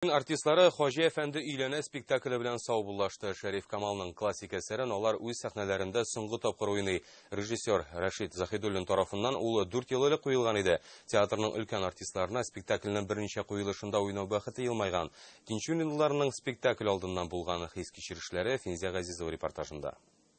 Н артистлары Хаҗи әфәнде өйләнә спектакле белән саубуллашты. Шәриф Камалның классик әсәрен алар үз сәхнәләрендә соңгы тапкыр уйный. Режиссер Рәшит Заһидуллин тарафыннан ул дүрт ел элек куелган иде. Театрның өлкән артистларына спектакльнең берничә куелышында уйнау бәхете елмайган. Тинчуринлыларның спектакль алдыннан булган хис-кичерешләре Финзя Газизова репортажында.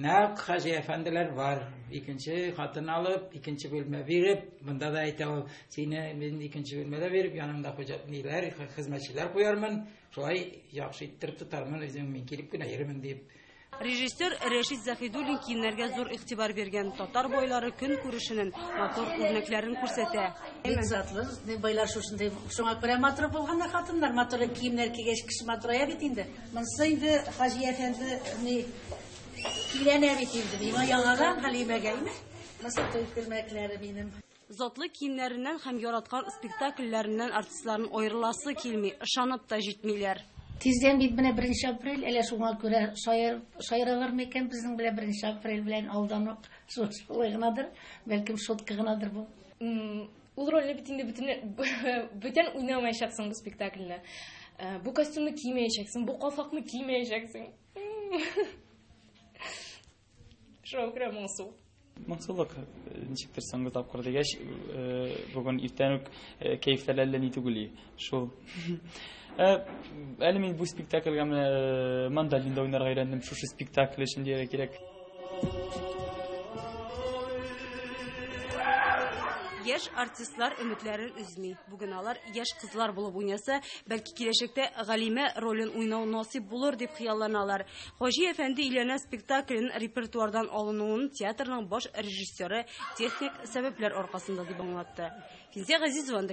Нәкъ хаҗи әфәнделәр бар. Икенче хатын алып, икенче бүлмә биреп, монда да әйтә ул, сине мин икенче бүлмәдә биреп, янымда хуҗа ниләр, хезмәтчеләр куярмын, шулай яхшы иттереп тотармын, үзем мин килеп кенә йөрмим дип. Режиссер Рәшит Заһидуллин киемнәргә зур игътибар биргән. Татар байлары көн күрешенең матур үрнәкләрен күрсәтә. Бик затлы, байлар шушындый, шуңа күрә матур булганнар хатыннар, матур киемнәр кигәч, кеше матурая бит инде. Монсы инде Хаҗи әфәнде ни киләнә бит инде. Миңа яңадан Хәлимәгә име? Монсы туй күрмәкләре минем. Затлы киемнәреннән һәм яраткан спектакльләреннән артистларның аерыласы килми, ышанып та җитмиләр. Тиздән бит менә беренче апрель, әле шуңа күрә шаяр, шаяралар микән безнең белән беренче апрель белән алдан ук шулай гынадыр, бәлкем шутка гынадыр бу. Ул рольне бит инде бүтән уйнамаячаксың бу спектакльдә. Э, бу костюмны кимәячәксең, бу калфакны кимәячәксең. Шоу керә моңсу. Моңсулык э, ничектер соңгы тапкыр дигәч, э, бүген иртән үк кәефләр әллә ни түгел. Шул. Ә, әле мин бу спектакльгә менә э, мандолинда уйнарга өйрәндем. Шушы спектакль өчен дияргә кирәк. Яшь артистлар өметләрен үзми. Бүген алар яшь кызлар булып уйнаса, бәлки киләчәктә Галимә ролен уйнау насыйп булыр дип хыялланалар. Хаҗи әфәнде өйләнә спектаклен репертуардан алынуын театрның баш режиссеры техник сәбәпләр аркасында дип аңлатты. Физия Газизова